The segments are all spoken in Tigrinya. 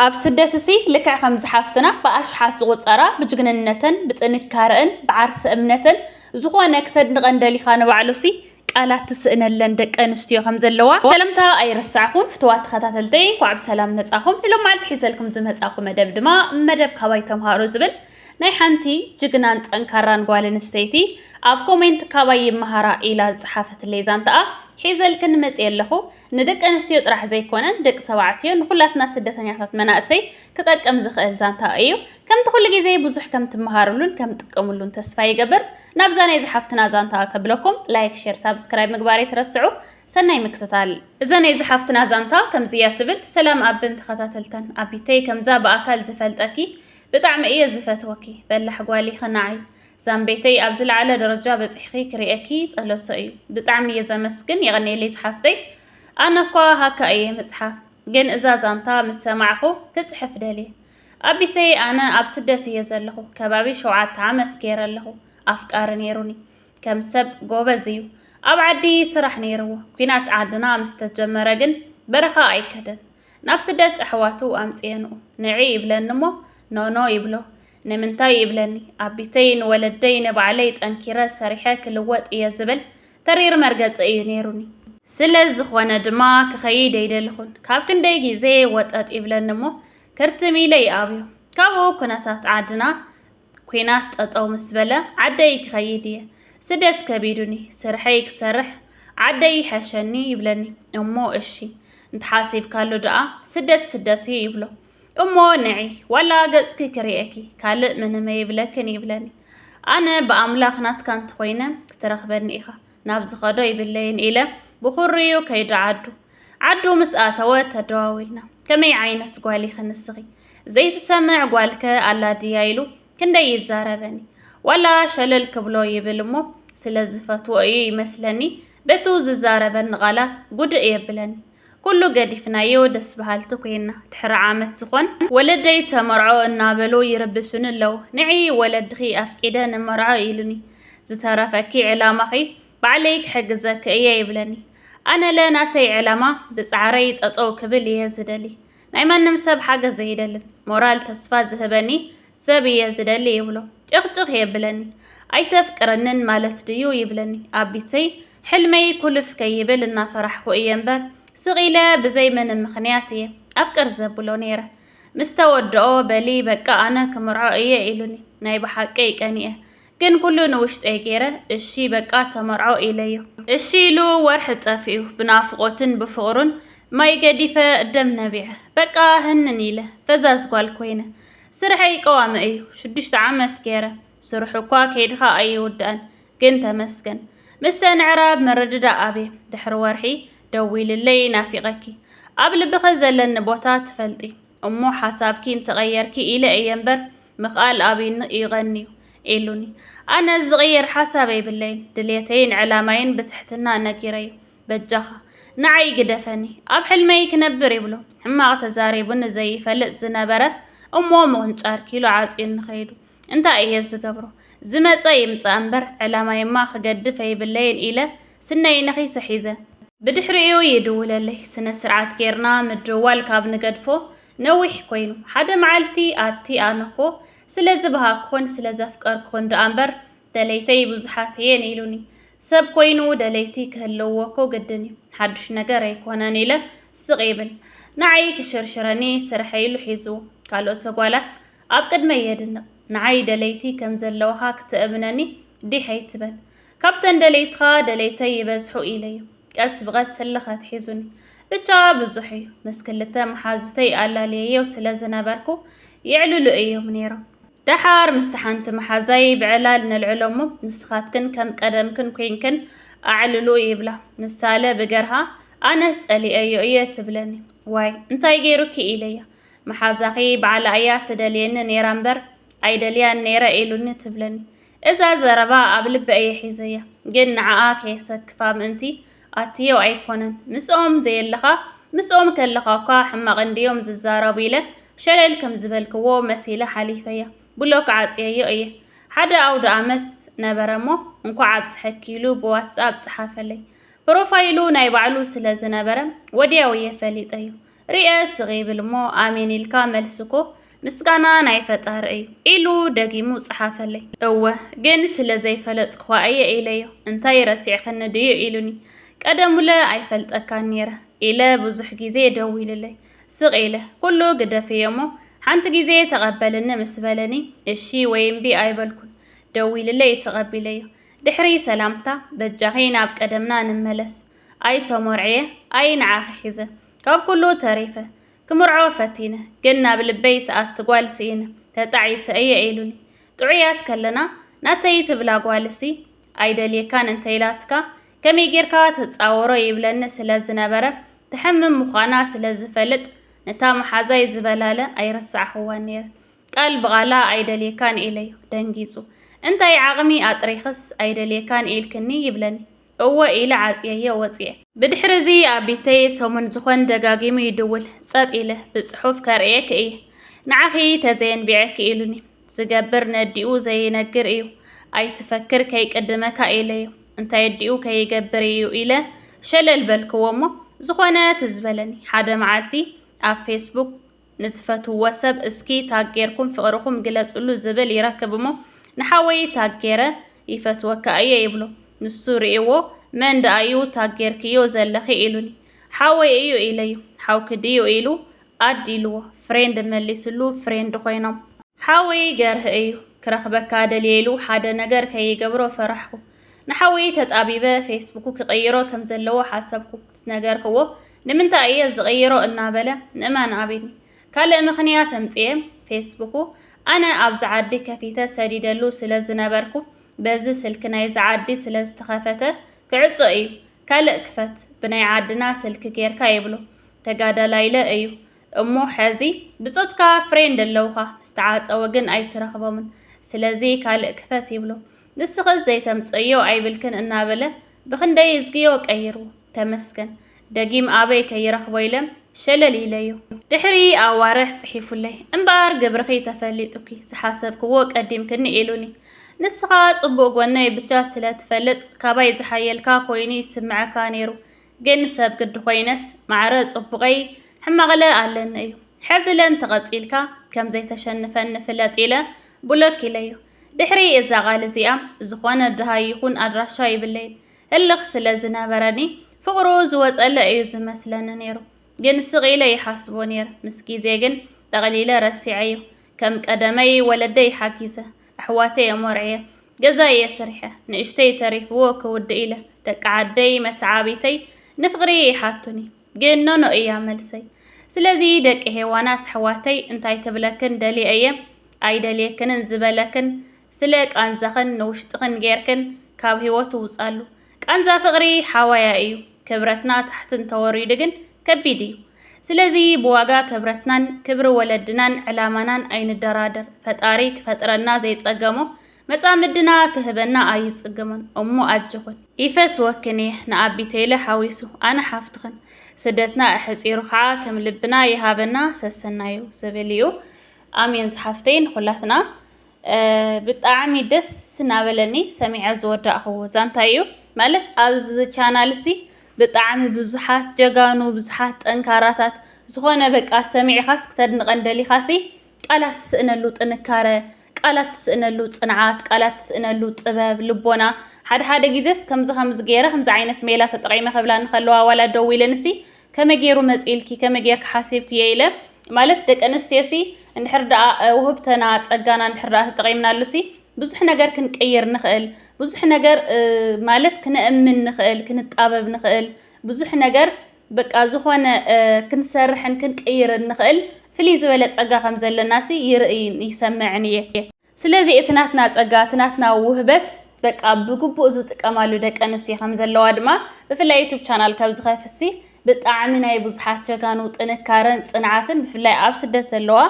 ኣብ ስደትሲ ልክዕ ከምዚ ሓፍትና ብኣሽሓት ዝቑጸራ ብጅግንነተን ብጥንካረእን ብዓርሰ እምነተን ዝኾነ ክተድንቐን ደሊኻ ንባዕሉሲ ቃላት ትስእነለን ደቂ ኣንስትዮ ከም ዘለዋ ሰለምታ ኣይረሳዕኹን። ፍትዋት ተኸታተልተይ እንኳዕ ብሰላም መጻኹም። ንሎም መዓልቲ ሒዘልኩም ዝመጻኹ መደብ ድማ መደብ ካባይ ተምሃሩ ዝብል ናይ ሓንቲ ጅግናን ጠንካራን ጓል ኣንስተይቲ ኣብ ኮሜንት ካባይ ይመሃራ ኢላ ዝጸሓፈትለይ ዛንታኣ ሒዘልክን መጽየ ኣለኹ። ንደቂ ኣንስትዮ ጥራሕ ዘይኮነን ደቂ ተባዕትዮ ንኩላትና ስደተኛታት መናእሰይ ክጠቅም ዝኽእል ዛንታ እዩ። ከምቲ ኩሉ ግዜ ብዙሕ ከም ትመሃርሉን ከም ትጥቀምሉን ተስፋ ይገብር። ናብዛ ናይ ዝሓፍትና ዛንታ ከብለኩም ላይክ ሼር ሳብስክራይብ ምግባር ኣይትረስዑ። ሰናይ ምክትታል። እዛ ናይ ዝሓፍትና ዛንታ ከምዚ እያ ትብል። ሰላም ኣብን ተኸታተልተን ኣቢተይ ከምዛ ብኣካል ዝፈልጠኪ ብጣዕሚ እየ ዝፈትወኪ በላሕ ጓል ኢኺ ናዓይ። ዛምበይተይ ኣብ ዝለዓለ ደረጃ በጺሕኺ ክርእየኪ ጸሎቶ እዩ ብጣዕሚ እየ ዘመስግን የቐኔለይ ዝሓፍተይ ኣነ እኳ ሃካ እየ ምጽሓፍ ግን እዛ ዛንታ ምስ ሰማዕኹ ክጽሕፍ ደልየ ኣቢተይ ኣነ ኣብ ስደት እየ ዘለኹ ከባቢ ሸውዓተ ዓመት ገይረ ኣለኹ ኣፍቃሪ ነይሩኒ ከም ሰብ ጎበዝ እዩ ኣብ ዓዲ ስራሕ ነይርዎ ኩናት ዓድና ምስ ተጀመረ ግን በረኻ ኣይከደን ናብ ስደት ኣሕዋቱ ኣምጽኤንኡ ንዒ ይብለኒ እሞ ኖኖ ይብሎ ንምንታይ ይብለኒ ኣቢተይ ንወለደይ ንባዕለይ ጠንኪረ ሰሪሐ ክልወጥ እየ ዝብል ተሪር መርገፂ እዩ ነይሩኒ። ስለ ዝኾነ ድማ ክኸይድ ኣይደልኹን። ካብ ክንደይ ግዜ ወጠጥ ይብለኒ እሞ ክርትም ኢለ ይኣብዮ። ካብኡ ኩነታት ዓድና ኲናት ጠጠው ምስ በለ ዓደይ ክኸይድ እየ። ስደት ከቢዱኒ ስርሐይ ክሰርሕ ዓደይ ይሐሸኒ ይብለኒ እሞ እሺ እንተሓሲብካሉ ደኣ ስደት ስደት እዩ ይብሎ። እሞ ንዒ ዋላ ገጽኪ ክርእየኪ ካልእ ምንም ይብለክን ይብለኒ ኣነ ብኣምላኽ ናትካ እንተኾይነ ክትረኽበኒ ኢኻ ናብ ዝኸዶ ይብለይን ኢለ ብኹርዩ ከይዱ ዓዱ ዓዱ ምስ ኣተወ ተደዋዊልና ከመይ ዓይነት ጓል ኢኺ ንስኺ ዘይትሰምዕ ጓልከ ኣላ ድያ ኢሉ ክንደይ ይዛረበኒ ዋላ ሸለል ክብሎ ይብል እሞ ስለ ዝፈትዎ እዩ ይመስለኒ በቱ ዝዛረበኒ ቃላት ጉድእ የብለኒ ኩሉ ገዲፍናዮ ደስ በሃልቲ ኮይና ድሕሪ ዓመት ዝኾን ወለደይ ተመርዖ እናበሉ ይርብሹኒ ኣለው ንዕይ ወለድኺ ኣፍቂደ ንመርዖ ኢሉኒ ዝተረፈኪ ዕላማኺ ባዕለይ ክሕግዘኪ እየ ይብለኒ ኣነለ ናተይ ዕላማ ብፃዕረይ ጠጠው ክብል እየ ዝደሊ ናይ ማንም ሰብ ሓገዝ ዘይደልን ሞራል ተስፋ ዝህበኒ ሰብ እየ ዝደሊ ይብሎ። ጭቕጭቕ የብለኒ። ኣይተፍቅረንን ማለት ድዩ ይብለኒ። ኣብ ቢተይ ሕልመይ ኩልፍ ከይብል እናፈራሕኹ እየ እምበር ስቕ ኢለ ብዘይ ምንም ምኽንያት እየ ኣፍቅር ዘብሎ ነይረ። ምስ ተወድኦ በሊ በቃ ኣነ ክምርዖ እየ ኢሉኒ። ናይ ብሓቀይ ቀኒኤ። ግን ኩሉ ንውሽጠይ ገይረ እሺ በቃ ተመርዖ ኢለዮ። እሺ ኢሉ ወርሒ ጸፊኡ ብናፍቆትን ብፍቅሩን ማይ ገዲፈ ደም ነቢዐ በቃ ህንን ኢለ ፈዛዝ ጓል ኮይነ ስርሐይ ቀዋሚ እዩ ሽዱሽተ ዓመት ገይረ ስርሑ እኳ ከይድኻ ኣይውዳእን ግን ተመስገን ምስተን ዕራብ ምርድዳእ ኣብየ ድሕሪ ወርሒ ደዊልለይ ናፊቀኪ ኣብ ልብኺ ዘለኒ ቦታ ትፈልጢ እሞ ሓሳብኪ እንተቐየርኪ ኢለ እየ እምበር ምኽኣል ኣብይኒ እዩ ቐንዩ ኢሉኒ። ኣነ ዝቕየር ሓሳብ የብለይን፣ ድልየተይን ዕላማይን ብትሕትና ነጊረዮ። በጃኻ ንዓይ ግደፈኒ ኣብ ሕልመይ ክነብር ይብሎ ሕማቕ ተዛሪቡኒ ዘይፈልጥ ዝነበረ እሞ ምቕንጫር ኪሎ ዓጽዩኒ ከይዱ። እንታይ እየ ዝገብሮ ዝመጸ ይምጻእ እምበር ዕላማይማ ክገድፍ ኣይብለይን ኢለ ስነይ ነኺሰ ሒዘ። ብድሕሪኡ ይድውለለይ። ስነ ስርዓት ጌርና ምድዋል ካብ ንገድፎ ነዊሕ ኮይኑ። ሓደ መዓልቲ ኣቲ ኣነኮ ስለ ዝበሃግኩኽን ስለ ዘፍቀርኩኽን ደኣ እምበር ደለይተይ ብዙሓት እየን ኢሉኒ። ሰብ ኮይኑ ደለይቲ ክህልውዎኮ ግድን እዩ ሓዱሽ ነገር ኣይኮነን ኢለ ስቕ ይብል። ንዓይ ክሽርሽረኒ ስርሐይ ኢሉ ሒዙ ካልኦት ጓላት ኣብ ቅድመይ የድንቕ ንዓይ ደለይቲ ከም ዘለውኻ ክተእምነኒ ዲሕ ኣይትበል ካብተን ደለይትኻ ደለይተይ ይበዝሑ ኢለዩ ቀስ ብቐስ ህልኽ ኣትሒዙኒ ብቻ ብዙሕ እዩ ምስ ክልተ መሓዙተይ ኣላልየዮ ስለ ዝነበርኩ የዕልሉ እዮም ነይሮም ደሓር ምስቲ ሓንቲ መሓዛይ ብዕላል ነልዕሎ እሞ ንስኻትክን ከም ቀደምክን ኮይንክን ኣዕልሉ ይብላ ንሳለ ብገርሃ ኣነስ ጸሊአዮ እየ ትብለኒ ዋይ እንታይ ገይሩኪ ኢለያ መሓዛኺ ባዕላ እያ ትደልየኒ ነይራ እምበር ኣይደልያን ነይረ ኢሉኒ ትብለኒ። እዛ ዘረባ ኣብ ልቢ እየ ሒዘያ፣ ግን ንዓኣ ከየሰክፋ ምእንቲ ኣትዮ ኣይኮነን። ምስኦም ዘየለኻ ምስኦም ከለኻ እኳ ሕማቕ እንድዮም ዝዛረቡ ኢለ ሸለል ከም ዝበልክዎ መሲለ ሓሊፈያ። ብሎክ ዓጽየዮ እየ። ሓደ ኣውደኣመት ነበረ እሞ እንኳዕ ኣብጽሐኪ ኢሉ ብዋትስኣፕ ጸሓፈለይ። ፕሮፋይሉ ናይ ባዕሉ ስለ ዝነበረ ወድያው እየ ፈሊጠዮ። ሪኤ ስቅ ይብል እሞ ኣሜን ኢልካ መልሲ እኮ ምስጋና ናይ ፈጣሪ እዩ ኢሉ ደጊሙ ጸሓፈለይ። እወ ግን ስለ ዘይፈለጥኩኻ እየ ኢለዮ። እንታይ ረሲዕክኒ ድዩ ኢሉኒ። ቀደሙለ ኣይፈልጠካን ነይረ ኢለ ብዙሕ ግዜ ደዊሉለይ ስቅ ኢለ ኩሉ ግደፍዮ እሞ ሓንቲ ግዜ ተቐበልኒ ምስ በለኒ እሺ ወይ እምቢ ኣይበልኩን ደዊሉለይ ተቐቢለዮ። ድሕሪ ሰላምታ በጃኺ ናብ ቀደምና ንመለስ ኣይ ተመርዕየ ኣይ ንዓኺ ሒዘ ካብ ኩሉ ተሪፈ ክምርዖ ፈቲነ ግን ናብ ልበይ ሰኣቲ ጓል ስኢነ ተጣዒሰ እየ ኢሉኒ ጥዑያት ከለና ናተይ ትብላ ጓልሲ ኣይደልየካን እንተኢላትካ ከመይ ጌርካ ተጻወሮ ይብለኒ ስለ ዝነበረ ትሕምም ምዃና ስለ ዝፈልጥ ነታ መሓዛይ ዝበላለ ኣይረሳዕኽዋን ነይረ ቃል ብቓላ ኣይደልየካን ኢለዮ ደንጊጹ እንታይ ዓቕሚ ኣጥሪኽስ ኣይደልየካን ኢልክኒ ይብለኒ እወ ኢለ ዓጽየዮ ወጽየ። ብድሕርዚ ኣብ ቢተይ ሰሙን ዝኾን ደጋጊሙ ይድውል። ጸጥ ኢለ። ብጽሑፍ ከርእየኪ እየ። ንዓኺ ተዘየንቢዐኪ ኢሉኒ። ዝገብር ነዲኡ ዘይነግር እዩ። ኣይትፈክር ከይቅድመካ ኢለዮ። እንታይ ኣዲኡ ከይገብር እዩ ኢለ ሸለል በልክዎ'ሞ ዝኾነ ትዝ በለኒ። ሓደ መዓልቲ ኣብ ፌስቡክ ንትፈትውዎ ሰብ እስኪ ታግ ጌርኩም ፍቅርኩም ግለፅሉ ዝብል ይረክብ እሞ ንሓወይ ታግ ጌረ ይፈትወካ እየ ይብሎ ንሱ ሪእዎ መን ደኣ እዩ ታግ ጌርክዮ ዘለኺ ኢሉኒ ሓወይ እዩ ኢለዩ ሓውኪ ድዩ ኢሉ ኣድ ኢልዎ ፍሬንድ መሊስሉ ፍሬንድ ኮይኖም ሓወይ ገርህ እዩ ክረክበካ ደልየ ኢሉ ሓደ ነገር ከይገብሮ ፈራሕኩ ንሓወይ ተጣቢበ ፌስቡኩ ክቅይሮ ከምዘለዎ ሓሰብኩ ምስ ነገርክዎ ንምንታይ እየ ዝቕይሮ እናበለ ንእማን ኣቢል ካልእ ምኽንያት ኣምጽኤ ፌስቡኩ ኣነ ኣብዚ ዓዲ ከፊተ ሰዲደሉ ስለ ዝነበርኩ በዚ ስልኪ ናይዚ ዓዲ ስለ ዝተኸፈተ ክዕጾ እዩ ካልእ ክፈት ብናይ ዓድና ስልኪ ጌርካ ይብሎ ተጋዳላይለ እዩ እሞ ሐዚ ብጾትካ ፍሬንድ ኣለውኻ ምስተዓጸወ ግን ኣይትረኽቦምን ስለዚ ካልእ ክፈት ይብሎ ንስኺ ዘይተምጽእዮ ኣይብልክን እናበለ ብኽንደይ እዝግዮ ቀይሩ ተመስገን ደጊም ኣበይ ከይረኽቦ ኢለም ሸለል ኢለዮ። ድሕሪ ኣዋርሕ ጽሒፉለይ እምበኣር ግብርኺ ተፈሊጡኪ ዝሓሰብክዎ ቀዲምክኒ ኢሉኒ። ንስኻ ጽቡቕ ጎነይ ብቻ ስለ ትፈልጥ ካባይ ዝሓየልካ ኮይኑ ይስምዐካ ነይሩ ግን ሰብ ግዲ ኮይነስ ማዕረ ጽቡቐይ ሕማቕለ ኣለኒ እዩ። ሕዚለ እንተቐጺልካ ከም ዘይተሸንፈኒ ፍለጥ ኢለ ቡሎክ ኢለዮ። ድሕሪ እዛ ቓል እዚኣ ዝኾነ ድሃይ ይኹን ኣድራሻ ይብለይ ህልኽ ስለ ዝነበረኒ ፍቕሩ ዝወጸለ እዩ ዝመስለኒ ነይሩ። ግን ስቕ ኢለ ይሓስቦ ነይረ። ምስ ግዜ ግን ጠቕሊለ ረሲዐዮ። ከም ቀደመይ ወለደይ ሓጊዘ፣ ኣሕዋተይ ኣሞርዕየ፣ ገዛየ ስሪሐ፣ ንእሽተይ ተሪፍዎ ክውድእ ኢለ ደቂ ዓደይ መተዓብይተይ ንፍቕሪ ይሓቱኒ። ግን ኖኖ እያ መልሰይ። ስለዚ ደቂ ሄዋናት ኣሕዋተይ እንታይ ክብለክን ደልየ እየ ኣይደልየክንን ዝበለክን ስለ ቃንዛኽን ንውሽጥኽን ጌርክን ካብ ሂወቱ ውጻሉ። ቃንዛ ፍቅሪ ሓዋያ እዩ ክብረትና ታሕቲ እንተወሪዱ ግን ከቢድ እዩ። ስለዚ ብዋጋ ክብረትናን ክብሪ ወለድናን ዕላማናን ኣይንደራደር ፈጣሪ ክፈጥረና ዘይጸገሞ መጻምድና ክህበና ኣይጽገሞን እሞ ኣጆኽን። ይፈትወክን እየ ንኣቢ ቴለ ሓዊሱ ኣነ ሓፍትኽን ስደትና ኣሕጺሩ ከዓ ከም ልብና ይሃበና ሰሰናዩ ዝብል እዩ ኣሜን ዝሓፍተይ ንኹላትና ብጣዕሚ ደስ እናበለኒ ሰሚዐ ዝወዳእኽዎ ዛንታ እዩ ማለት ኣብዚ ቻናል ሲ ብጣዕሚ ብዙሓት ጀጋኑ ብዙሓት ጠንካራታት ዝኾነ በቃ ሰሚዕኻስ ክተድንቐን ደሊኻሲ ቃላት ትስእነሉ ጥንካረ ቃላት ትስእነሉ ጽንዓት፣ ቃላት ትስእነሉ ጥበብ፣ ልቦና፣ ሓደ ሓደ ግዜስ ከምዚ ከምዚ ገይረ ከምዚ ዓይነት ሜላ ተጠቒመ ክብላኒ ከለዋ ዋላ ደው ኢለንሲ ከመይ ገይሩ መጺእልኪ ከመይ ገይርኪ ሓሲብክዮ ኢለ ማለት ደቂ ኣንስትዮሲ እንድሕር ደኣ ውህብተና ጸጋና እንድሕር ደኣ ተጠቒምናሉሲ ብዙሕ ነገር ክንቅይር ንኽእል፣ ብዙሕ ነገር ማለት ክነእምን ንኽእል፣ ክንጣበብ ንኽእል፣ ብዙሕ ነገር በቃ ዝኾነ ክንሰርሕን ክንቅይርን ንኽእል ፍልይ ዝበለ ጸጋ ከም ዘለናሲ ይርእይን ይሰምዕን እየ። ስለዚ እቲ ናትና ጸጋ፣ እቲ ናትና ውህበት በቃ ብግቡእ ዝጥቀማሉ ደቂ ኣንስትዮ ከም ዘለዋ ድማ ብፍላይ ዩቱብ ቻናል ካብ ዝኸፍትሲ ብጣዕሚ ናይ ብዙሓት ጀጋኑ ጥንካረን ጽንዓትን ብፍላይ ኣብ ስደት ዘለዋ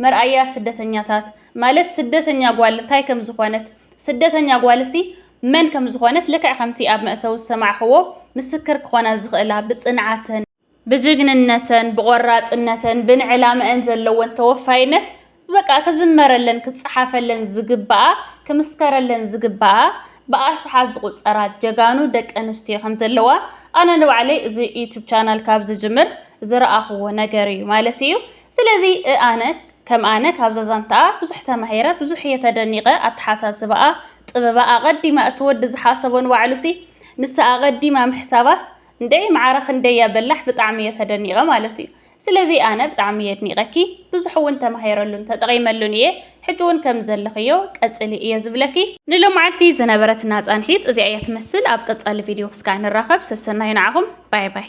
መርኣያ ስደተኛታት ማለት ስደተኛ ጓል እንታይ ከም ዝኾነት ስደተኛ ጓልሲ መን ከም ዝኾነት ልክዕ ከምቲ ኣብ መእተዊ ዝሰማዕኽዎ ምስክር ክኾና ዝኽእላ ብጽንዓተን፣ ብጅግንነተን፣ ብቖራጽነተን፣ ብንዕላመኣን ዘለወን ተወፋይነት በቃ ክዝመረለን ክጸሓፈለን ዝግባኣ ክምስከረለን ዝግባኣ ብኣሽሓት ዝቑጸራ ጀጋኑ ደቂ ኣንስትዮ ከም ዘለዋ ኣነ ንባዕለይ እዚ ዩቱብ ቻናል ካብ ዝጅምር ዝረኣኽዎ ነገር እዩ ማለት እዩ። ስለዚ ኣነ ከም ኣነ ካብዛ ዛንታኣ ብዙሕ ተማሂረ ብዙሕ እየ ተደኒቀ ኣተሓሳስባኣ ጥበባ ኣቀዲማ እቲ ወዲ ዝሓሰቦ ንባዕሉሲ ንሳ ኣቀዲማ ምሕሳባስ እንድዒ ማዕረ ክንደይ እያ በላሕ ብጣዕሚ እየ ተደኒቀ ማለት እዩ ስለዚ ኣነ ብጣዕሚ እየ ኣድኒቀኪ ብዙሕ እውን ተማሂረሉን ተጠቂመሉን እየ ሕጂ እውን ከም ዘለኽዮ ቀፅሊ እየ ዝብለኪ ንሎማዓልቲ ዝነበረትና ፃንሒት እዚኣ እያ ትመስል ኣብ ቀፃሊ ቪድዮ ክስካዕ ንራኸብ ሰሰናዩ ንዓኹም ባይ ባይ